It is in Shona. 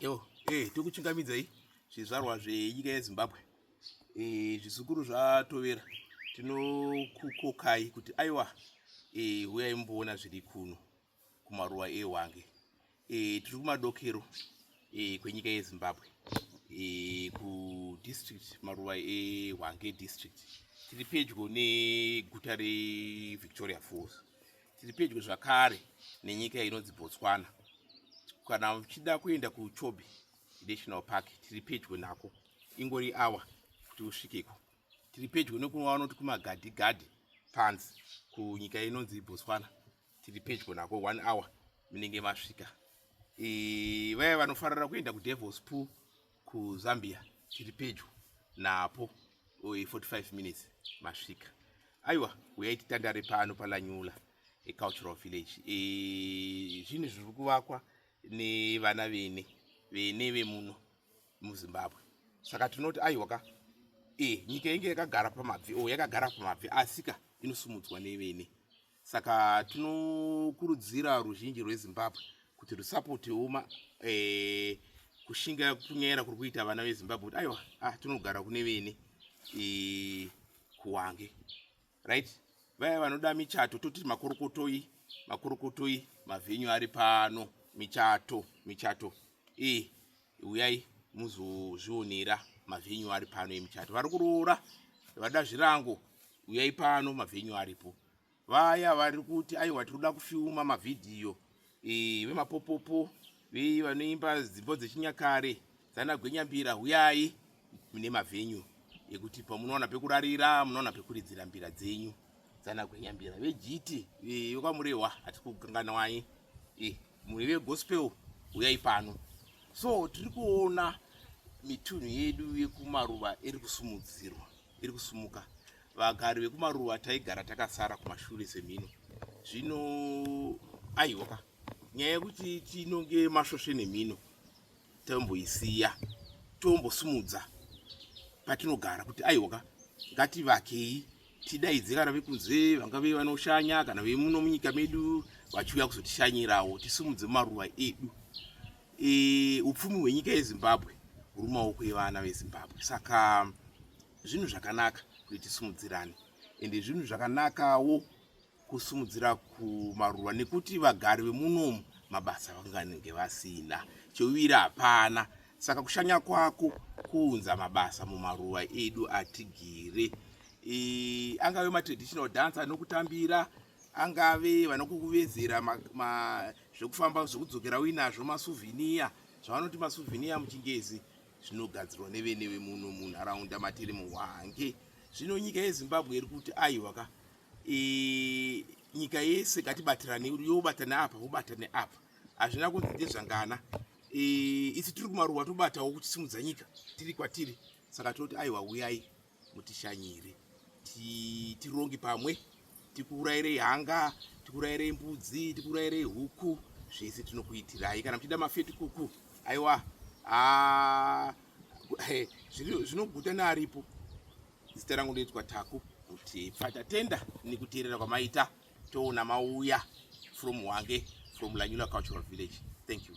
yo e eh, tikuchingamidzai zvizvarwa zvenyika yezimbabwe e, zvizukuru zvatovera tinokukokai kuti aiwa e, huyai mboona zviri kuno kumaruwa ehwange e, tiri kumadokero e, kwenyika yezimbabwe e, kudistrict maruwa ehwange district tiri pedyo neguta revictoria falls Tiri pedyo zvakare nenyika inonzi Botswana. Kana uchida kuenda kuChobe National Park, tiri pedyo nako. Ingori awa kuti usvikeko. Tiri pedyo nekuva vanoti kumagadhi gadhi panzi kunyika inonzi Botswana. Tiri pedyo nako one hour munenge masvika. E, vaya vanofarira kuenda kuDevil's Pool kuzambia tiri pedyo napo 45 minutes masvika aiwa uyai titandare pano palanyula ecultural village e, zvinhu zviri kuvakwa nevana vene vene vemuno muzimbabwe saka tinoti aiwa ka e, nyika yenge yakagara pamabvi o yakagara pamabvi asika inosumudzwa nevene saka tinokurudzira ruzhinji rwezimbabwe kuti rusapotewo ma eh, kushinga kunyaira kuri kuita vana vezimbabwe kuti aiwa ah, tinogara kune vene eh, kuwange right vaya vanoda michato toti makorokotoi makorokotoi mavhenyu ari pano michato michato e Uyai muzozvionera mavenyu ari pano emuchato. Vari kuroora vada zvirango, uyai pano mavenyu aripo. Vaya vari kuti aiwa tinoda kufilma mavhidhiyo e, vemapopopo vei vanoimba dzimbo dzechinyakare dzana gwenyambira huyai mune mavhenyu ekuti pamunoona pekurarira munoona pekuridzira mbira dzenyu dzana gwenyambira vejiti vekwamurehwa hatikukanganwai e. muri vegospel uyai pano so tiri kuona mitunhu yedu yekumaruva iri kusumudzirwa iri kusumuka vagari vekumaruva taigara takasara kumashure semhino zvino aiwaka nyaya yekuti tinonge masvosve nemhino tomboisiya tombosumudza patinogara kuti aiwaka ngativakei tidaidze kana vekunze vanga ve vanoshanya kana vemuno munyika medu vachiuya kuzotishanyirawo tisumudze maruva edu e, upfumi hwenyika yezimbabwe huri maoko evana vezimbabwe saka zvinhu zvakanaka kuti tisumudzirane ende zvinhu zvakanakawo kusimudzira kumaruva nekuti vagari vemunomu mabasa vanganenge vasina cheuwiri hapana saka kushanya kwako kuunza mabasa mumaruva edu atigire e, angave matraditional dance anokutambira angave vanokukuvezera zvekufamba zvekudzokera uinazvo masuvhiniya zvavanoti masuvhiniya muchingezi zvinogadzirwa nevene vemuno munharaunda matiri muhwange zvino nyika yezimbabwe iri kuti aiwaka e, nyika yese ngatibatirane yobatane apa wobatane apa hazvina kunzi ndezvangana e, isi tiri kumaruwa tobatawo kuchisimudza nyika tiri kwatiri saka tinoti aiwa uyai mutishanyire tironge pamwe tikurairei hanga tikurairei mbudzi tikurairei huku zvese tinokuitirai kana muchida mafeti kuku aiwa ah, zvinoguta nearipo Zita rangu ndoitwa Taku kuti patatenda nekuteerera kwamaita toona mauya from Hwange from Lanyula Cultural Village. Thank you.